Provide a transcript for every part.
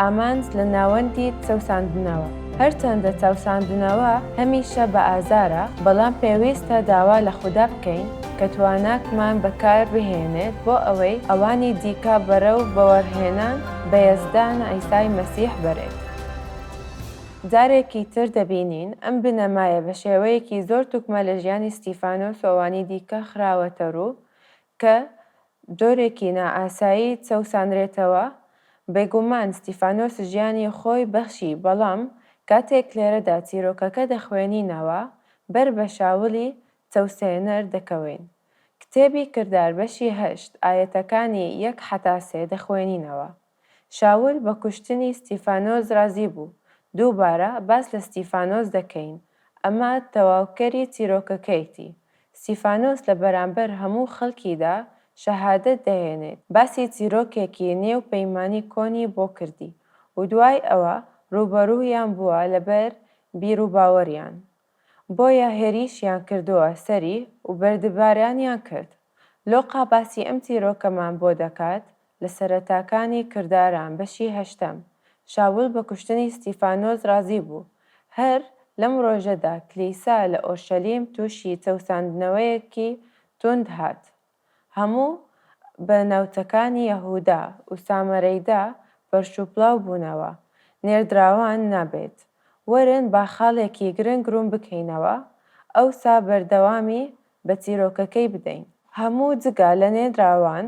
ئامانج لە ناوەندی چەوساندنەوە. هەرچەندە چاوساندنەوە هەمیشە بە ئازارە، بەڵام پێویستە داوا لە خودا بکەین کە تواناکمان بەکار بهێنێت بۆ ئەوەی ئەوانی دیکە بەرەو بەوەڕهێنان بە یەزدان عیسای مەسیح بەرێت. جارێکی تر دەبینین ئەم بنەمایە بە شێوەیەکی زۆر توکمە لە ژیانی ستیفانۆس و ئەوانی دیکە خراوەتەڕوو کە جۆرێکی نائاسایی چەوسانرێتەوە، بێگومان ستیفانۆس ژیانی خۆی بەخشی بەڵام کاتێک لێرەدا چیرۆکەکە دەخوێنینەوە بەر بە شاولی چەوسێنەر دەکەوین. کتێبی کردار بەشی هەشت ئایەتەکانی یەک حەتا سێ دەخوێنینەوە. شاول بە کوشتنی ستیفانۆس رازی بوو، دووبارە باس لە ستیفانۆس دەکەین، ئەمە تەواوکەری چیرۆکەکەیتی، ستیفانۆس لە بەرامبەر هەموو خەڵکیدا شەهادەت دەهێنێت، باسی چیرۆکێکی نێو پەیمانی کۆنی بۆ کردی و دوای ئەوە رووبەروویان بووە لەبەر بیروباوەریان، بۆیە هێریشیان کردوە سەری و بەردبارانیان کرد. لۆقا باسی ئەم چیرۆکەمان بۆ دەکات لە سەرەتاکانی کرداران بەشی هەشتەم، شاول بە کوشتنی ستیفانۆس ڕازی بوو. هەر لەم ڕۆژەدا کلیسا لە ئۆرشەلیم توشی چەوساندنەوەیەکی توند هات. هەموو بە ناوچەکانی یەهودا و سامەرەیدا فەرش و پڵاو بوونەوە، نێردراوان نابێت. وەرن با خاڵێکی گرنگ ڕوون بکەینەوە، ئەوسا بەردەوامی بە چیرۆکەکەی بدەین. هەموو جگە لە نێردراوان،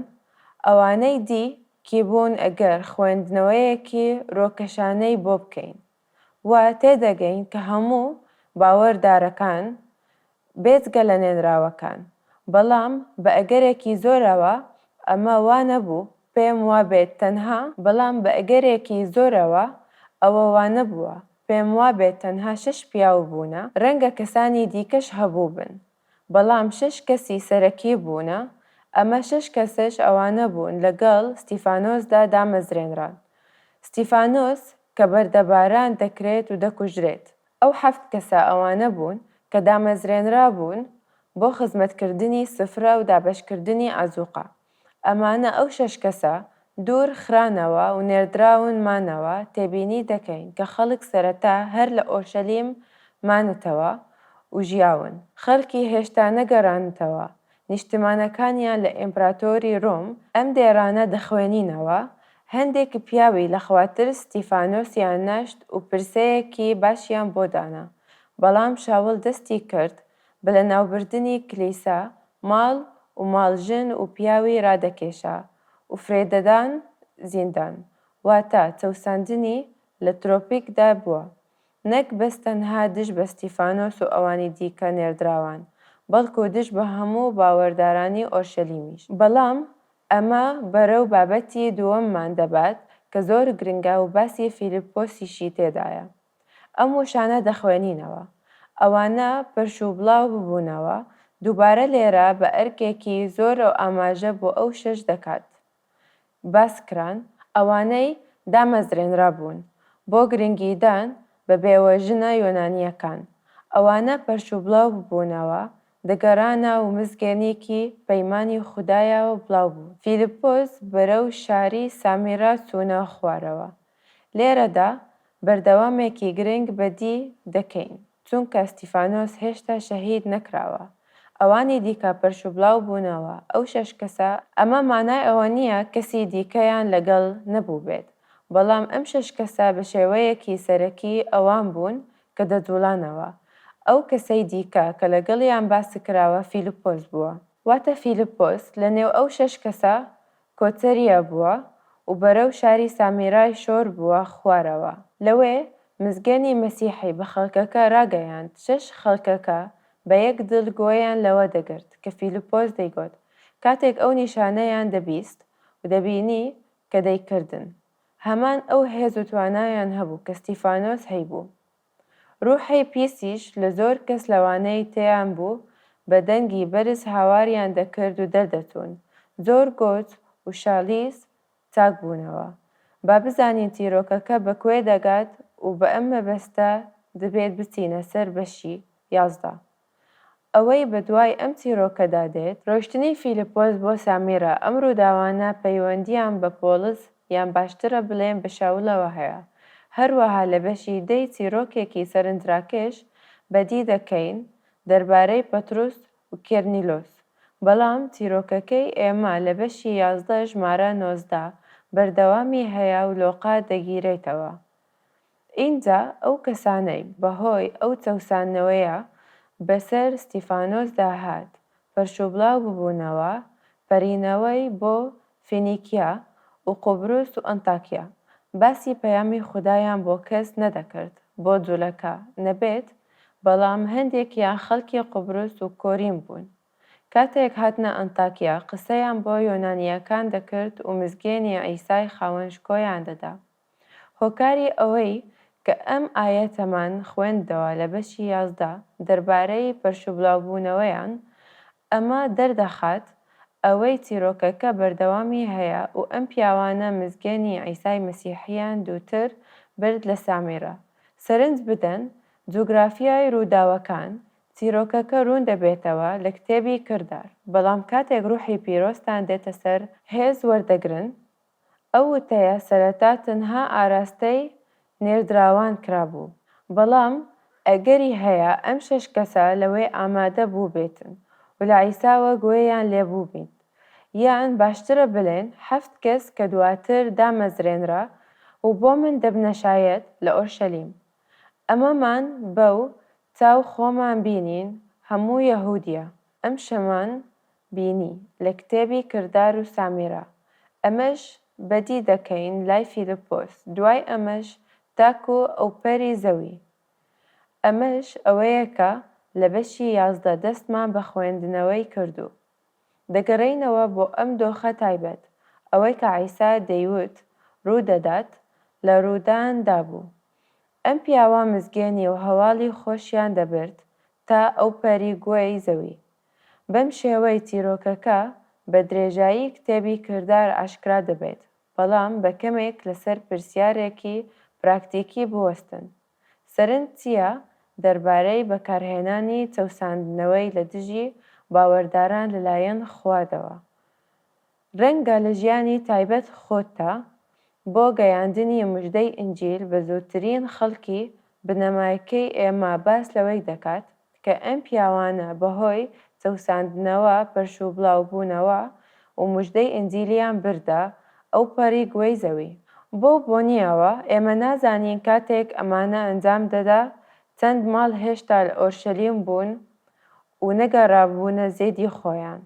ئەوانەی دی کی بوون ئەگەر خوێندنەوەیەکی ڕۆکەشانەی بۆ بکەین، و تێدەگەین کە هەموو باوەردارەکان بێجگە لە نێنراوەکان، بەڵام بە ئەگەرێکی زۆرەوە ئەمە وا نەبوو، پێم وا بێت تەنها. بەڵام بە ئەگەرێکی زۆرەوە ئەوە وا نەبووە، پێم وا بێت تەنها شەش پیاو بوونە، رەنگە کەسانی دیکەش هەبووبن، بەڵام شەش کەسی سەرەکی بوونە، ئەمە شەش کەسەش ئەوانە بوون لەگەڵ ستیفانۆسدا دامەزرێنران. ستیفانۆس کە بەردەباران دەکرێت و دەکوژرێت، ئەو حەفت کەسە ئەوانە بوون کە دامەزرێنرابوون بۆ خزمەتکردنی سفرە و دابەشکردنی عەزووقە. ئەمانە ئەو شەش کەسە دوور خرانەوە و نێردراون مانەوە، تێبینی دەکەین کە خەڵک سەرەتا هەر لە ئۆرشەلیم مانتەوە و ژیاون، خەڵکی هێشتا نەگەرانتەوە نیشتمانەکانیان لە ئیمپراتۆری روم، ئەم دێڕانە دەخوێنینەوە، هەندێک پیاوی لە خوا ترس ستیفانۆسیان نەشت و پرسەیەکی باشیان بۆ دانا، بەڵام شاول دەستی کرد بە لەناوبردنی کلیسا ماڵ و ماڵ ژن و پیاوی ڕادەکێشا و فرێدەدان زیندان، واتە چەوساندنی لە ترۆپیکدا بووە، نەک بەس تەنها دژ بە ستیفانۆس و ئەوانی دیکە نێردراوان، بەڵکو دژ بە هەموو باوەردارانی ئۆرشەلیمیش. بەڵام ئەمە بەرەو بابەتی دووەممان دەبات کە زۆر گرنگە و باسی فیلیپۆسیشی تێدایە. ئەم وشانە دەخوێنینەوە. ئەوانە پرش و بڵاو ببوونەوە، دووبارە لێرە بە ئەرکێکی زۆرەو ئاماژە بۆ ئەو شەش دەکات باس کران، ئەوانەی دامەزرێنرا بوون بۆ گرنگیدان بە بێوە ژنە یۆنانییەکان. ئەوانە پرش و بڵاو ببوونەوە، دەگەرانە و مزگێنیکی پەیمانی خودایەوە بڵاو بوون. فیلپۆس بەرەو شاری سامیرا چوونە خوارەوە. لێرەدا بەردەوامێکی گرنگ بەدی دەکەین، چونکە ستیفانۆس هێشتا شەهید نەکراوە، ئەوانی دیکە پەرش و بڵاو بوونەوە، ئەو شەش کەسە، ئەمە مانای ئەوە نییە کەسی دیکەیان لەگەڵ نەبووبێت، بەڵام ئەم شەش کەسە بە شێوەیەکی سەرەکی ئەوان بوون کە دەجووڵانەوە، ئەو کەسەی دیکە کە لەگەڵیان باسکراوە فیلپۆس بووە. واتە فیلپۆس لەنێو ئەو شەش کەسە کۆتەریا بووە و بەرەو شاری سامیرای شۆر بووە خوارەوە. لەوێ مزگەنی مەسیحی بە خەڵکەکە راگەیاند شەش خەڵکەکە بە یەک دڵ گوێیان لەوە دەگرت کە فیلپۆس دەیگۆت کاتێک ئەو نیشانەیان دەبیست و دەبینی کە دەیکردن هەمان ئەو هێز و توانایان هەبوو کە ستیفانۆس هەیبوو روحی پیسیش لە زۆر کەس لەوانەی تێیان بوو بە دەنگی بەرز هاواریان دەکرد و دەردەچوون. زۆر گۆچ و شالیس چاک بوونەوە. با بزانین چیرۆکەکە بە کوێ دەگات و بە ئەم مەبەستە دبێت بچینە سەر بەشی یازدە. ئەوەی بەدوای ئەم چیرۆکەدا دێت، ڕۆیشتنی فیلپۆس بۆ سامیرا، ئەم ڕووداوانە پەیوەندییان بە پۆڵس یان باشترە بڵێم بە شاولەوە هەیە، هەروەها لە بەشی دە ی چیرۆکێکی سەرنجراکێش بەدی دەکەین دەربارەی پەتروس و کێرنیلۆس، بەڵام چیرۆکەکەی ئێمە لە بەشی یازدە ژمارە نۆزدە بەردەوامی هەیە و لۆقا دەگیرێتەوە ئینجا ئەو کەسانەی بەهۆی ئەو چەوساندنەوەیە بەسەر ستیفانۆسدا هات، پەرشوبڵاو ببوونەوە، پەرینەوەی بۆ فینیکیا و قوبروس و ئەنتاکیا، باسی پەیامی خودایان بۆ کەس نەدەکرد، بۆ جولەکە نەبێت، بەڵام هەندێکیان خەڵکی قوبروس و کۆرین بوون، کاتێک هاتنە ئەنتاکیا قسەیان بۆ یۆنانییەکان دەکرد و مزگێنی عیسای خاوەن شکۆیان دەدا. هۆکاری ئەوەی کە ئەم ئایەتەمان خوێندەوە لە بەشی یازدە دەربارەی پەرشوبڵاوبوونەوەیان، ئەمە دەردەخات ئەوەی چیرۆکەکە بەردەوامی هەیە و ئەم پیاوانە مزگێنی عیسای مەسیحیان دووتر برد لە سامیرە. سەرنج بدەن، جوگرافیای ڕووداوەکان، چیرۆکەکە ڕوون دەبێتەوە لە کتێبی کردار، بەڵام کاتێک ڕوحی پیرۆزتان دێتە سەر، هێز وەردەگرن ئەو وتەیە سەرەتا تەنها ئاراستەی نێردراوان کرابوو، بەڵام ئەگەری هەیە ئەم شەش کەسە لەوەی ئامادە بووبێتن و لە عیساوە گوێیان لێ بووبین، یان باشترە بلێن حەفت کەس کە دواتر دامەزرێنرا و بۆ من دەبنە شایەد لە ئۆرشەلیم. ئەمەمان بەو چاو خۆمان بینین هەموو یەهودیە، ئەمشەمان بینی لە کتێبی کردار و سامیرا ئەمەش بەدی دەکەین لای فیلپۆس دوای ئەمەش تاکو ئەوپەری زەوی ئەمەش ئەوەیە کە لە بەشی یازدە دەستمان بە خوێندنەوەی کردو دەگەرێینەوە بۆ ئەم دۆخە تایبەت ئەوەی کە عیسا دەیوت ڕوو دەدات لە ڕوودان دابوو ئەم پیاوە مزگێنی و هەواڵی خۆشیان دەبرد تا ئەوپەری گۆێی زەوی. بەم شێوەی چیرۆکەکە بە درێژایی کتێبی کردار ئاشکرا دەبێت، بەڵام بە کەمێک لەسەر پرسیارێکی پراکتیکی بوەستن، سەرنج چییە دەربارەی بەکارهێنانی چەوساندنەوەی لە دژی باوەرداران لەلایەن خوادەوە؟ ڕەنگە لە ژیانی تایبەت خۆتدا بۆ گەیاندنی مژدەی ئینجیل بە زۆرترین خەڵکی بنەمایکەی ئێمە باس لەوەی دەکات کە ئەم پیاوانە بەهۆی چەوساندنەوە پەرشوبڵاوبوونەوە و مژدەی ئینجیلیان بردە ئەوپەڕی گۆی زەوی. بەو بۆنییەوە ئێمە نازانین کاتێک ئەمانە ئەنجام دەدا چەند ماڵ هێشتا لە ئۆرشەلیم بوون و نەگەڕابوونە زێدی خۆیان.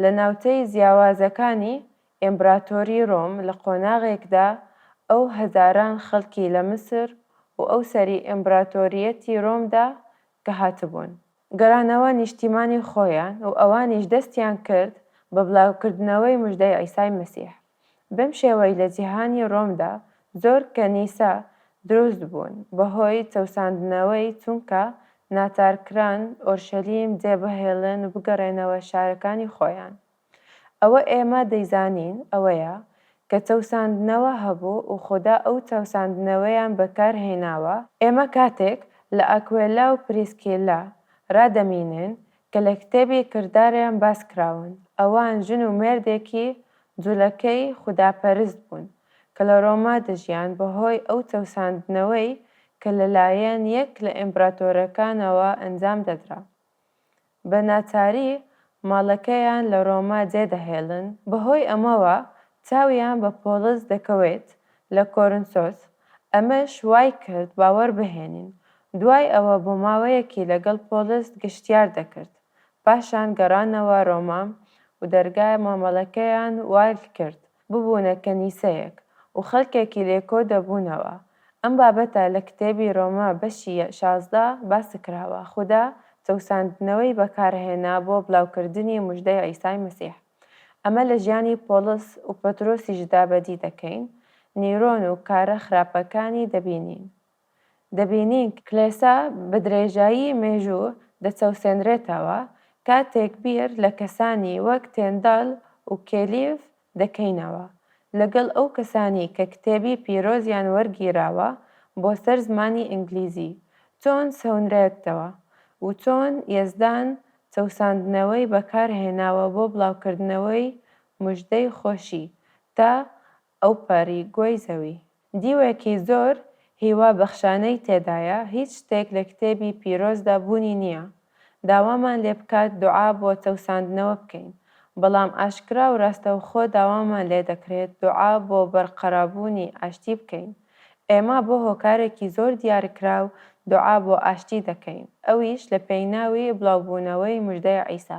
لە ناوچەی جیاوازەکانی ئیمبراتۆری رۆم لە قۆناغێکدا ئەو هەزاران خەڵکی لە میسر و ئەو سەری ئیمبراتۆریەتی رۆمدا کە هاتبوون، گەرانەوە نیشتیمانی خۆیان و ئەوانیش دەستیان کرد بە بڵاوکردنەوەی مژدەی عیسای مەسیح. بەم شێوەی لە جیهانی ڕۆمدا زۆر کەنیسە دروست بوون بەهۆی چەوساندنەوەی چونکە ناچار کران ئۆرشەلیم جێ بهێڵن و بگەڕێنەوە شارەکانی خۆیان ئەوە ئێمە دەیزانین ئەوەیە کە چەوساندنەوە هەبوو و خودا ئەو چەوساندنەوەیان بەکار هێناوە ئێمە کاتێک لە ئاکوێلا و پریسکیلا ڕا دەمینن کە لە کتێبی کرداریان باس کراون، ئەوان ژن و مێردێکی جولەکەی خوداپەرست بوون کە لە ڕۆما دەژیان بەهۆی ئەو چەوساندنەوەی کە لەلایەن یەک لە ئیمپراتۆرەکانەوە ئەنجام دەدرا بە ناچاری ماڵەکەیان لە ڕۆما جێ دەهێڵن، بەهۆی ئەمەوە چاویان بە پۆڵس دەکەوێت لە کۆرنسۆس، ئەمەش وای کرد باوەڕ بهێنین دوای ئەوە بۆ ماوەیەکی لەگەڵ پۆڵس گەشتیار دەکرد، پاشان گەڕانەوە ڕۆما و دەرگای مامەڵەکەیان والکرد ببوونە کەنیسەیەک و خەڵکێکی لێ کۆ دەبوونەوە، ئەم بابەتە لە کتێبی ڕۆما بەشی شازدە باسکراوە، خودا چەوساندنەوەی بەکارهێنا بۆ بڵاوکردنی مژدەی عیسای مەسیح، ئەمە لە ژیانی پۆڵس و پەترۆسیشدا بەدی دەکەین، نیرۆن و کارە خراپەکانی دەبینین. دەبینین کلێسا بە درێژایی مێژوو دەچەوسێنرێتەوە، کاتێک بیر لە کەسانی وەک تێندال و کێلیڤ دەکەینەوە، لەگەڵ ئەو کەسانەی کە کتێبی پیرۆزیان وەرگیراوە بۆ سەر زمانی ئینگلیزی، چۆن سەونرێتەوە و چۆن یەزدان چەوساندنەوەی بەکارهێناوە بۆ بڵاوکردنەوەی مژدەی خۆشی تا ئەو پەڕی گۆی زەوی. دیوێکی زۆر هیوا بەخشانەی تێدایە هیچ شتێک لە کتێبی پیرۆزدا بوونی نیە داوامان لێ بکات دوعا بۆ چەوساندنەوە بکەین بەڵام ئاشکرا و راستەوخۆ داوامان لێ دەکرێت دوعا بۆ بەرقەرابوونی ئاشتی بکەین ئێمە بۆ هۆکارێکی زۆر دیارکراو دوعا بۆ ئاشتی دەکەین ئەویش لە پێیناوی بڵاوبوونەوەی مژدەی عیسا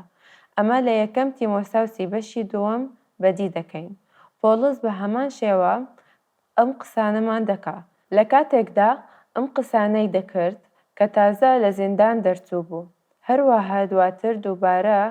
ئەمە لە یەکەم تیمۆساوسی بەشی دووەم بەدی دەکەین پۆڵس بە هەمان شێوە ئەم قسانەمان دەکا لە کاتێکدا ئەم قسانەی دەکرد کە تازە لە زیندان دەرچوو بوو هەروەها دواتر دووبارە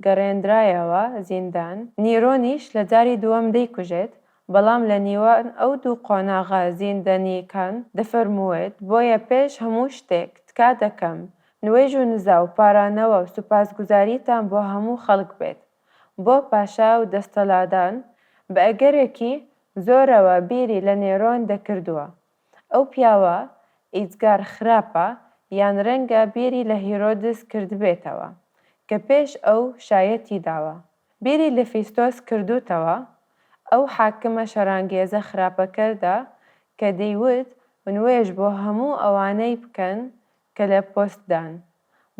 گەڕێنرایەوە زیندان نیرۆنیش لە جاری دووەم دەیکوژێت بەڵام لە نیوان ئەو دوو قۆناغە زیندەنییەکان دەفەرمووێت بۆیە پێش هەموو شتێک تکا دەکەم نوێژ و نزا و پارانەوە و سوپاسگوزاریتان بۆ هەموو خەڵک بێت بۆ پاشا و دەستەلادان بە ئەگەرێکی زۆرەوە بیری لە نێرۆن دەکردووە. ئەو پیاوە ئیجگار خراپە یان رەنگە بیری لە هیرۆدس کردبێتەوە کە پێش ئەو شایەتی داوە. بیری لە فیستۆس کردووتەوە ئەو حاکمە شەرانگێزە خراپەکەردا کە دەیوت نوێژ بۆ هەموو ئەوانەی بکەن کە لە پۆست دان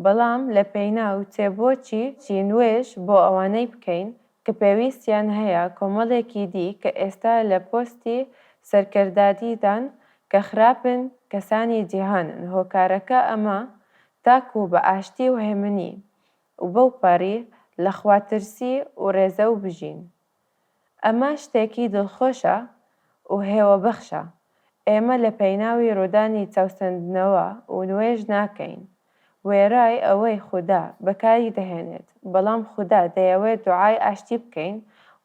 بەڵام لە پێیناو چێ بۆچی چی نوێش بۆ ئەوانەی بکەین کە پێویستیان هەیە کۆمەڵێکی دی کە ئێستا لە پۆستی سەرکردادی دان کە خراپن کەسانی جیهانن هۆکارەکە ئەمە تاکو بە ئاشتی و هێمنی و بەو پەڕی لە خوا ترسی و ڕێزەو بژین. ئەمە شتێکی دڵخۆشە و هێوەبەخشە. ئێمە لە پێناوی ڕوودانی چەوسەندنەوە و نوێژ ناکەین. وێڕای ئەوەی خودا بەکاری دەهێنێت، بەڵام خودا دەیەوێت دوعای ئاشتی بکەین.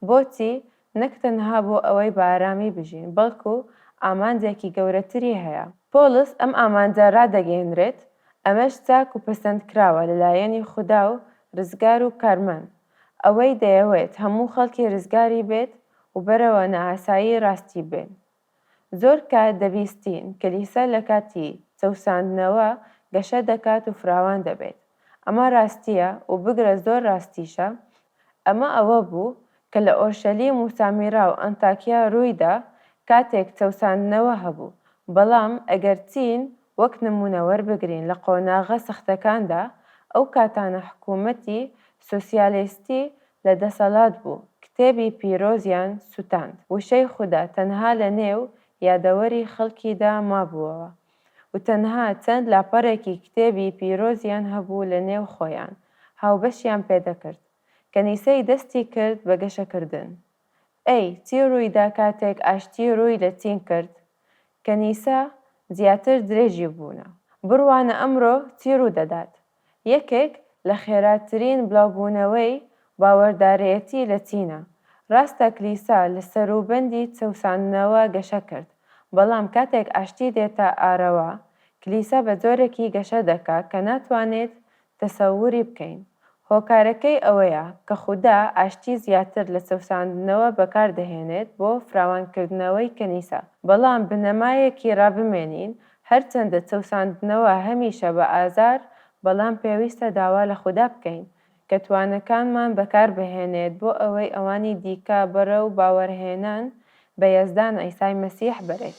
بۆچی؟ نەک تەنها بۆ ئەوەی بە ئارامی بژین، بەڵکو ئامانجێکی گەورەتری هەیە. پۆڵس ئەم ئامانجە ڕادەگەیەنرێت، ئەمەش چاک و پەسەندکراوە لەلایەنی خودا و ڕزگار و کارمەند، ئەوەی دەیەوێت هەموو خەڵکی رزگاری بێت و بەرەوە نائاسایی راستی بێن. زۆر کات دەبیستین کلیسا لە کاتی چەوساندنەوە گەشە دەکات و فراوان دەبێت. ئەمە راستییە و بگرە زۆر راستیشە. ئەمە ئەوە بوو کە لە ئۆرشەلیم و سامیرا و ئەنتاکیا روویدا کاتێک چەوساندنەوە هەبوو. بەڵام ئەگەر چین وەک نموونە وەربگرین لە قۆناغە سەختەکاندا ئەو کاتانە حکوومەتی سۆسیالێستی لە دەسەلات بوو کتێبی پیرۆزیان سوتاند وشەی خودا تەنها لە نێو یادەوەری خەلکیدا مابووەوە و تەنها چەند لاپەرێکی کتێبی پیرۆزیان هەبوو لە نێو خۆیان هاوبەشیان پێدەکرد کەنیسەی دەستی کرد بە گەشەکردن ئەی چی ڕووی دا کاتێک ئاشتی ڕووی لە چین کرد؟ کەنیسە زیاتر درێژی بوونە. بڕوانە ئەمڕۆ چی ڕوو دەدات؟ یەکێک لە خێراترین بڵاوبوونەوەی باوەردارێتی لە چینە. ڕاستە کلیسا لە سەروبەندی چەوساندنەوە گەشە کرد، بەڵام کاتێک ئاشتی دێتە ئارەوە، کلیسا بە جۆرێکی گەشە دەکا کە ناتوانێت تەسەوری بکەین. هۆکارەکەی ئەوەیە کە خودا ئاشتی زیاتر لە چەوساندنەوە بەکار دەهێنێت بۆ فراوانکردنەوەی کەنیسە. بەڵام بنەمایەکی ڕابمێنین، هەرچەندە چەوساندنەوە هەمیشە بە ئازار، بەڵام پێویستە داوا لە خودا بکەین کە توانەکانمان بەکاربهێنێت بۆ ئەوەی ئەوانی دیکە بەرەو باوەرهێنان بە یەزدان عیسای مەسیح بەرێت.